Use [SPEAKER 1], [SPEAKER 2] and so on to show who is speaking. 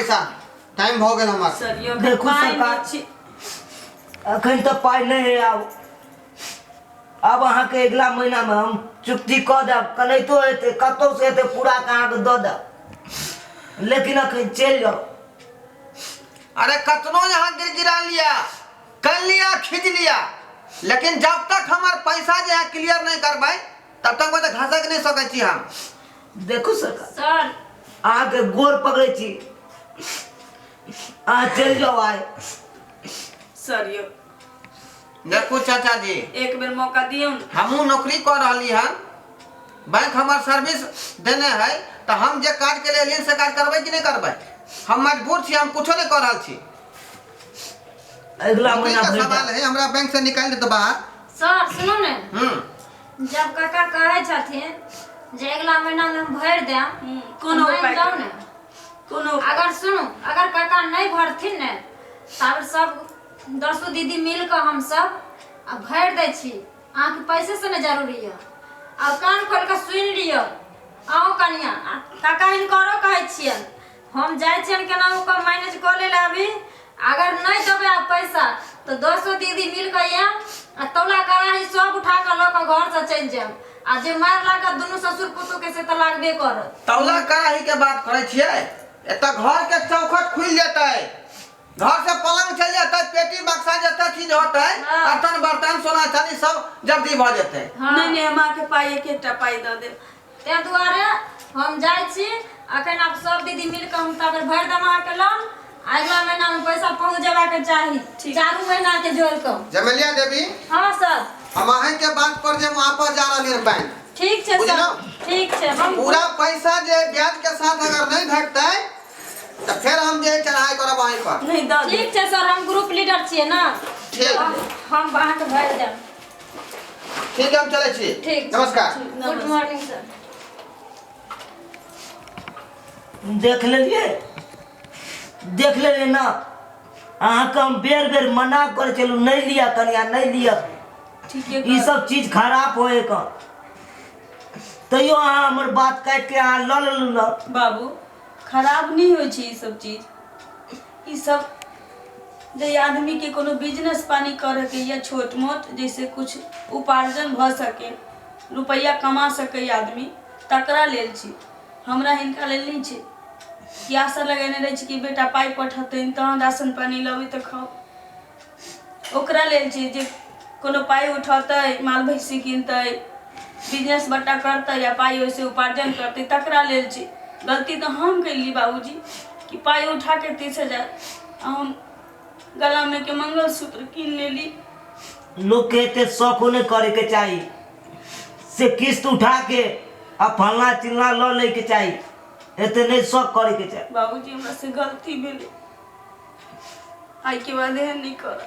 [SPEAKER 1] पैसा टाइम भऽ गेल हमर सर यौ देखू पाइ नहि सरकार।
[SPEAKER 2] छी अखन तऽ पाइ नहि है आब आब अहाँके अगिला महीनामे हम चुक्ति कऽ देब कनैतो हेतै कतहु से हेतै पूरा कऽ अहाँके दऽ देब लेकिन अखन चलि जाउ
[SPEAKER 1] अरे कतनो यहाँ गिर गिरा लिया कर लिया खींच लिया लेकिन जब तक हमार पैसा जो है क्लियर नहीं करबै तब तक बता घासक नहीं सकै छी हम देखू सरकार
[SPEAKER 2] सर
[SPEAKER 3] अहाँ के गोर
[SPEAKER 2] पकड़े छी अहाँ चल जाओ आए
[SPEAKER 4] सर यो देखू
[SPEAKER 1] चाचा जी एक बेर मौका दियौ
[SPEAKER 4] ने हमू नौकरी कर
[SPEAKER 1] रही है बैंक हमार सर्विस देने है तो हम जे काज के लिए एलियन से काज करबे कि नहीं करबे हम मजबूर छी हम कुछो नहीं कर रहल छी अगला
[SPEAKER 2] नौकरी महीना का भेट सवाल जाएत। है हमरा बैंक
[SPEAKER 1] से निकाल देते बाहर सर सुनू ने
[SPEAKER 3] हम्म जब काका कहै छथिन जे अगिला महीनामे हम भरि देब हम्म, कोनो तऽ मानि उपाय जाउ करू। ने कोनो
[SPEAKER 4] अगर सुनू
[SPEAKER 3] अगर काका नहि भरथिन ने तब सब दसो दीदी मिल कऽ हम सब आ भरि दै छी अहाँके पैसे से नहि जरूरी यऽ आ कान खोल कऽ सुनि लियौ अहूँ कनिया आ काका हिनकरो कहै छियनि हम जाइ छियनि केनाहु कऽ मैनेज कऽ लेल अभी अगर नहि देबै आब पैसा तऽ दसो दीदी मिल कऽ आयब आ तौला कड़ाही सब उठा कऽ लऽ कऽ घर से चलि जायब आ जे मारि लागत दुनू ससुर पुतोह के से तऽ लागबे करत तौला कड़ाही के
[SPEAKER 1] बात करै छियै एतऽ घर के चौखट खुलि जेतै घर से पलंग चलि जेतै पेटी बक्सा जते चीज होतै हाँ। बर्तन बर्तन सोना चांदी सब जब्दी भऽ जेतै हाँ। नहि नहि हमरा के
[SPEAKER 4] पाई एक एकटा पाई दऽ देब ताहि दुआरे
[SPEAKER 3] हम जाइ छी अखन आब सब दीदी मिल कऽ हम ताबे भरि देब अहाँके लोन अगिला महीना में पैसा पहुंच जेबाक चाही चारू महीना के जोड़ कऽ जमेलिया देवी
[SPEAKER 1] हाँ सर
[SPEAKER 3] हम अहें के बात
[SPEAKER 1] पर जे हम वापस जा रहलिए बैंक ठीक छै सर बुझलहुँ? ठीक छै
[SPEAKER 3] हम पूरा पैसा जे
[SPEAKER 1] ब्याज के साथ अगर नहीं भेटतै तो फिर हम जे चढ़ाई करब अहीं पर नहीं दऽ दे ठीक छै सर
[SPEAKER 4] हम ग्रुप
[SPEAKER 3] लीडर छियै ने ठीक।
[SPEAKER 1] हम अहाँके
[SPEAKER 3] भरि देब
[SPEAKER 1] ठीक है हम चले छी
[SPEAKER 3] ठीक छै,
[SPEAKER 2] नमस्कार ठीक, गुड नमस्कार। मॉर्निंग सर देख लेलिए देख लेलिए ना अहाँ के हम बेर बेर मना कर चलू नहीं लिया कनिया नहीं लिया ठीक है
[SPEAKER 4] ई सब चीज खराब
[SPEAKER 2] होए का तैयो अहाँ हमर बात काट के अहाँ लऽ लेलू ना बाबू
[SPEAKER 4] खराब नहीं हो छी ई सब चीज ई सब जे आदमी के कोनो बिजनेस पानी करे के या छोट मोट जैसे कुछ उपार्जन भ सके रुपया कमा सके आदमी तकरा लेल छी हमरा हिनका लेल नहीं छी कि आशा लगेने रहे छी कि बेटा पाई पठतन तहन राशन पानी लबी तो खाओ ओकरा लेल छै जे कोनो पाइ उठौतै माल भैंसी किनतै बिजनेस बट्टा करतै या पाइ ओहिसँ उपार्जन करतै तकरा लेल छै गलती तऽ हम कयली बाबूजी कि पाइ उठा कऽ तीस हजार आ हम गलामे के मंगलसूत्र कीन लेली लोकके
[SPEAKER 2] एते शौको नहि करैके चाही से किस्त उठा के आ फलना चिलना लऽ लैके चाही एते नहीं शौक करे के चाहे बाबूजी
[SPEAKER 4] हमरा से गलती भेल आई के बाद
[SPEAKER 2] एहन
[SPEAKER 4] नहीं कर